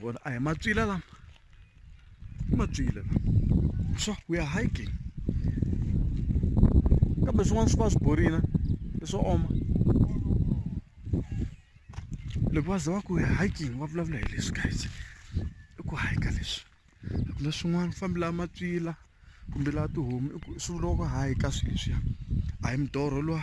vona a hi matswila lama i matswila lama so we are hiking kambe swin'wana swi va swi borina i swo oma loko va za va ku hiking va vulavula hi leswi guys i ku hika leswi a ku na swin'wana fambi laha matswila kumbe laha tihomu swi vuriwa ku hika swilo leswiya a hi midorho lwa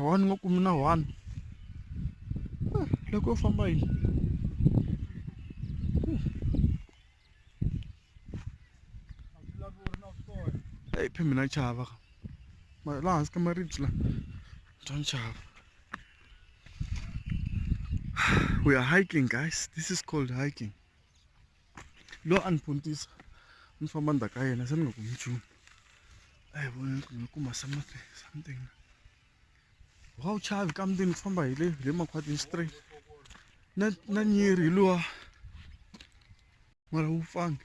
one ni nga kumi na one loko yo famba yini eyi phe mina chava ka laha hansi ka maribye la bya ni chava we are hiking guys this is called hiking loyi a ni puntisa ni famba ndzhaku ka yena se ni nga kumi nchumu a hi voni ni nga kuma something something wa wu chavi ka mutini ku famba hi le hi le makhwatini straight na na nyiri hi luwa mara wu pfangi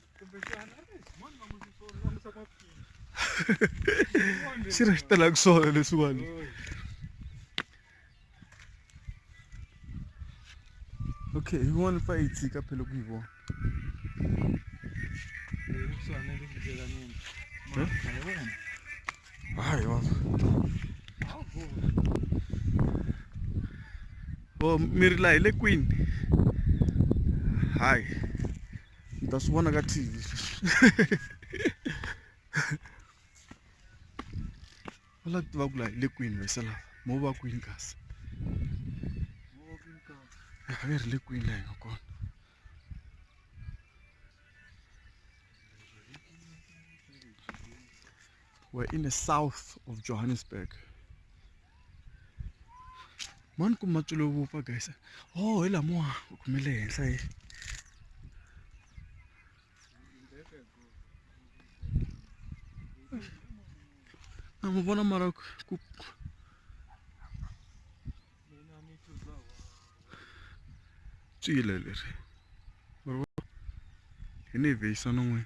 xi ri xi tela ku sola leswiwani okay hi vona fa yi tshika phela ku yi vona hayi wa o mi ri laha hi le kwini hayi mi ta swi vona ka tv va lava ku tiva ku laha hi le kwini vese lava mo va kwini kasi a va ri le kwini laha hi nga kona We're in the south of Johannesburg. Man ku matsulo vupfa guys. Oh, hi lamo ku khumele henhla hi. Na mu vona mara ku tswile leri. Hi ni vhisa non'wini.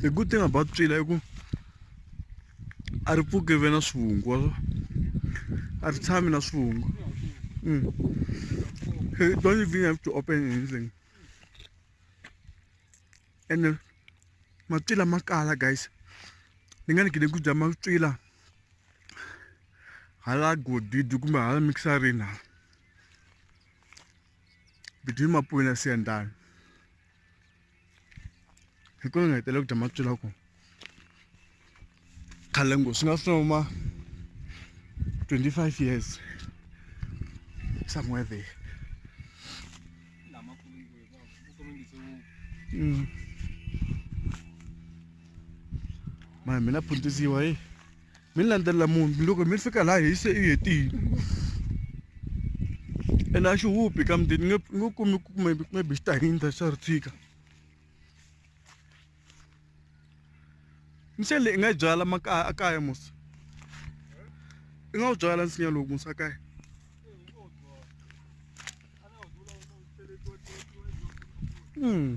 the good thing about tswila i ku a ri pfuki ve na swivungu wa swa a ri tshami na swivungu mm. hey, don't even have to open anything ene uh, matwila ma kala guys ni nga ni gide ku dya matwila hala godidi kumbe hala mixarini hala between mapuyi na siyandani hi kona nga hetela ku dya matswila ku khale ngo swi nga swi noma 25 years somewhere there mm. mara mina phundzisiwa hi mi ni landzelela munhu loko mi fika laha hi se i hetile ene a xi huphi ka mundeni ni nge ni nge kumi ku maybe maybe xi ta hindza xa ri tshika nsinya leyi i nga yi byala makaya a kaya musa i nga wu byala nsinya lowu musa a kaya Mm.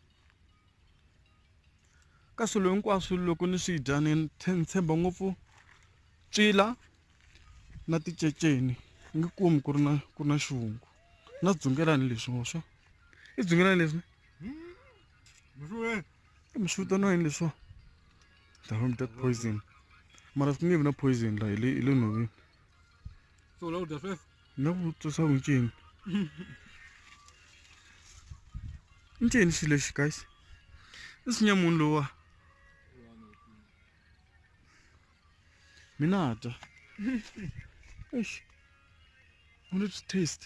ka swilo hinkwaswo loko ni swi dya ni tshemba ngopfu ncila na ticeceni nge kumi ku ri na ku ri na xivungu na dzungelani leswi ngo swa i dzungelani leswi mi swi vitaniwa yini leswo dahom that poison mara swi nge vi na poison la hi le hi le nhoveni No vutisa swa ku ncini ncini xilo lexi guys i sinya munhu lowa mina dya eish u ni taste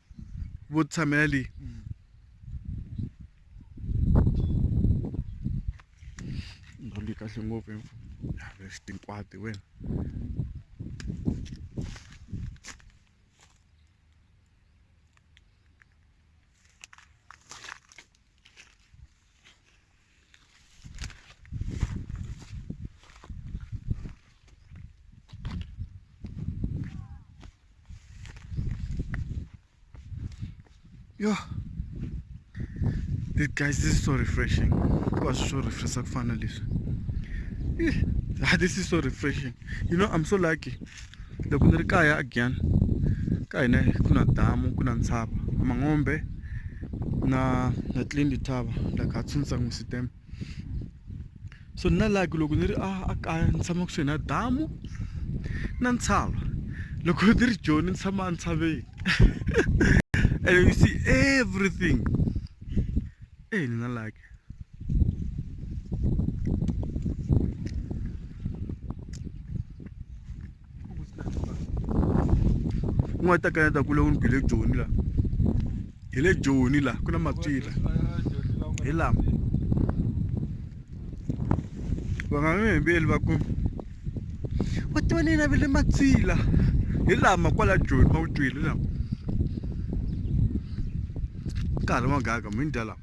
vo tshamela leyi ndhawu leyi kahle ngopfu tinkwati wena yo this guys this is so refreshing hikuva swi swo refresha ku fana leswi this is so refreshing you know i'm so lucky loko ni ri kaya a giyani ka hina ku na damu ku na ntshava mangombe na na tlindi thava la ka tshunsa n'wi sitem so na like loko ni ri a a kaya ni tshama kusuhi na damu na ntshava loko ni ri joni ni tshama entshaveni and you see everything Hey, Nina like. u nga ta kaneta ku le u ni bile joni la hi le joni la ku na matswila hi lama vangamembeli va ku va tiva ni navele matswila hi lama kwala joni va wu twile lama nkarhi wa gaka mi ni dya lama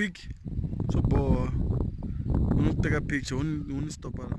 pik swo boha u n'wi teka picture u n'wi u n'wi stop-a la.